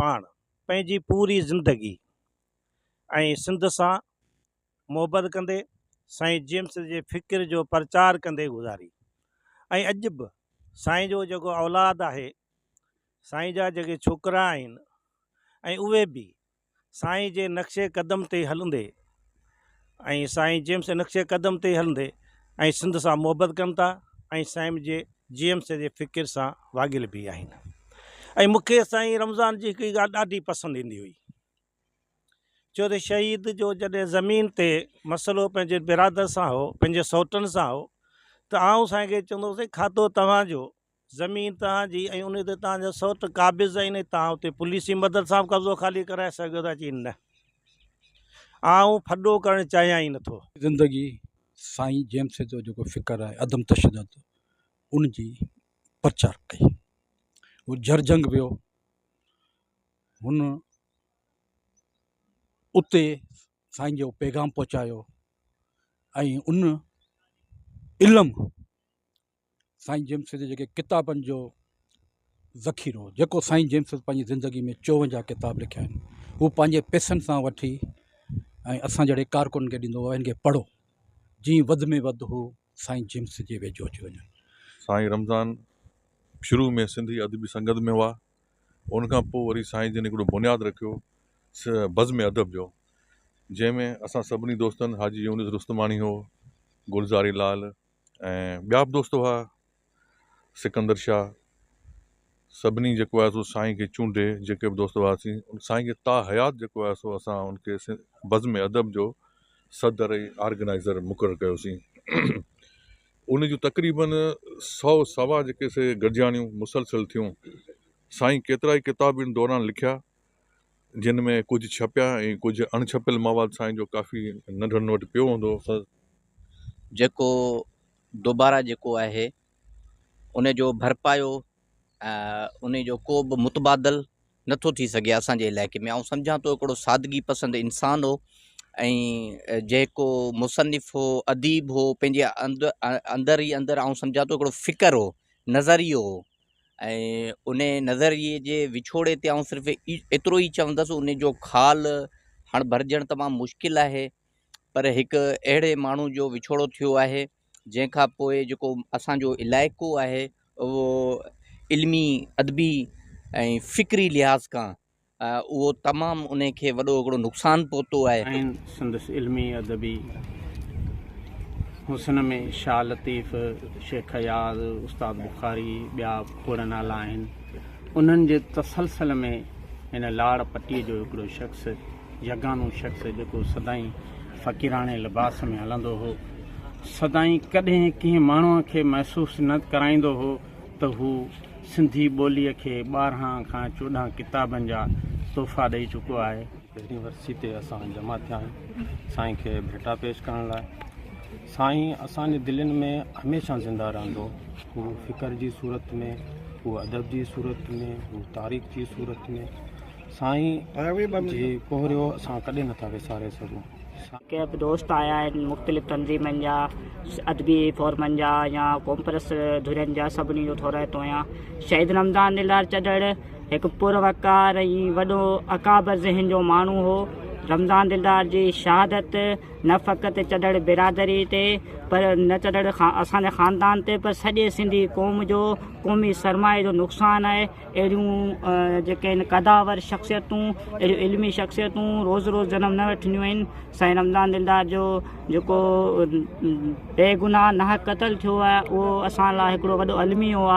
پاڻ پنهنجي پوري زندگي ۽ سنڌ سان محبت ڪندي سائين جيمس جي فڪر جو پرچار ڪندي گذاري ۽ اڄ به سائين جو جيڪو اولاد آهي سائين جا جيڪي ڇوڪرا آهن ۽ اهي به سائين جي نقش قدم تي هلندي ۽ سائين جيمس جي نقش قدم تي هلندي ۽ سنڌ سان محبت ڪن ٿا ۽ سائين جي جيمس جي فڪر سان واڳيل به آهن ۽ مون کي سائين رمضان جي هڪ ڳالهه ڏاڍي پسند ايندي هئي چو ته شهيد جو جڏهن زمين تي مسئلو پنهنجي برادر سان هو پنهنجي سوٽن سان هو ته آئون سائين کي چوندو هوسين کاتو توهان جو زمين توهان جي ۽ انهي تي توهان جا سوٽ قابض آهن ۽ توهان اتي پوليسي مدد سان به قبضو خالي ڪرائي سگهيو ٿا چين نه آئون ڦڏو ڪرڻ چاهيان ئي نٿو. زندگي سائين جيمس جو جيڪو فڪر آهي عدم تشدد ان جي پرچار ڪئي هو جرجنگ ويو هن اتي سائين جو پيغام پهچايو ۽ ان علم سائين جيمس جي جيڪي ڪتابن جو ذخيرو هو جيڪو سائين جيمس پنهنجي زندگي ۾ چوونجاهه ڪتاب لکيا آهن هو پنهنجي پيسن سان وٺي ۽ اسان جهڙي ڪارڪن کي ڏيندو هو هن کي پڙهو جي وڌ ۾ وڌ هو سائين جيمس جي ويجهو اچي وڃن سائين رمضان شروع ۾ سنڌي ادبي سنگت ۾ هئا ان کان پوء وري سائين جن هڪڙو بنياد رکيو بزم ادب جو جنهن ۾ اسان سڀني دوستن حاجي يونس رستماڻي هو گلزاري لال ۽ ٻيا به دوست هئا سڪندر شاهه سڀني جيڪو آهي سو سائين کي چونڊي جيڪي به دوست هئاسين سائين کي تا حيات جيڪو آهي سو اسان ان کي بزم ادب جو صدر ۽ آرگنائزر مقرر ڪيوسين ان جون تقريبن سو سوا جيڪي سي گڏجاڻيون مسلسل ٿيون سائين ڪيترا ئي ڪتاب ان دوران لکيا جن ۾ ڪجهه ڇپيا ۽ ڪجهه اڻ ڇپيل مواد سائين جو ڪافي ننڍڙن وٽ پيو هوندو هو. جيڪو دوباره جيڪو آهي ان جو ڀرپايو ان جو ڪو به متبادل نٿو ٿي سگهي اسان جي علائقي ۾ آئون سمجهان ٿو هڪڙو سادگي پسند انسان هو ۽ جيڪو مصنف هو اديب هو پنهنجي اندر اندر ئي اندر آئون سمجهان ٿو هڪڙو فڪر هو نظريو هو ۽ انهيء نظريي جي وڇوڙي تي آئون صرف ايترو ئي چوندس ان جو خال هاڻ ڀرجڻ تمام مشڪل آهي پر هڪ اهڙي ماڻهو جو وڇوڙو ٿيو آهي جنهن کان پوء جيڪو اسان جو علائقو آهي اهو علمي ادبي ۽ فڪري لحاظ کان اهو تمام انهي کي وڏو هڪڙو نقصان پهتو آهي. ۽ سندس علمي ادبي حسن ۾ شاهه لطيف، شيخ اياز، استاد بخاري ٻيا کوڙ نالا آهن. انهن جي تسلسل ۾ هن لاڙ پٽي جو هڪڙو شخص، يگانو شخص جيڪو سدائين فقيراڻي لباس ۾ هلندو هو، سدائين ڪڏهن ڪنهن ماڻهوء کي محسوس نه ڪرائيندو هو، ته هو سنڌي ٻوليء کي ٻارهن کان چوڏهن ڪتابن جا تحفا ڏئي چڪو آهي. پهرين ورسي تي اسان جمع ٿيا آهيون سائين کي ڀيٽا پيش ڪرڻ لاء. سائين اسان جي دلين ۾ هميشه زنده رهندو. هو فڪر جي صورت ۾، هو ادب جي صورت ۾، هو تاريخ جي صورت ۾. سائين جي ڪهريو اسان ڪڏهن نٿا وساري سگهون. ڪيئي به دوست آيا آهن مختلف تنظيمن جا ادبي فورمن جا يا قومپرست ڌرين جا سڀني جو ٿورائتو آهيان شهيد رمضان دلدار چڏڙ هڪ پروقار ۽ وڏو اڪابر ذهن جو ماڻهو هو رمضان دلدار جي شهادت نه فقط چڏڙ برادري تي پر نه چڏڙ اسان جي خاندان تي پر سڄي سنڌي قوم جو قومي سرمايي جو نقصان آهي اهڙيون جيڪي آهن قداور شخصيتون اهڙيون علمي شخصيتون روز روز جنم نه وٺنديون آهن سائين رمضان دلدار جو جيڪو بيگناهه ناحق قتل ٿيو آهي اهو اسان لاء هڪڙو وڏو الميو آهي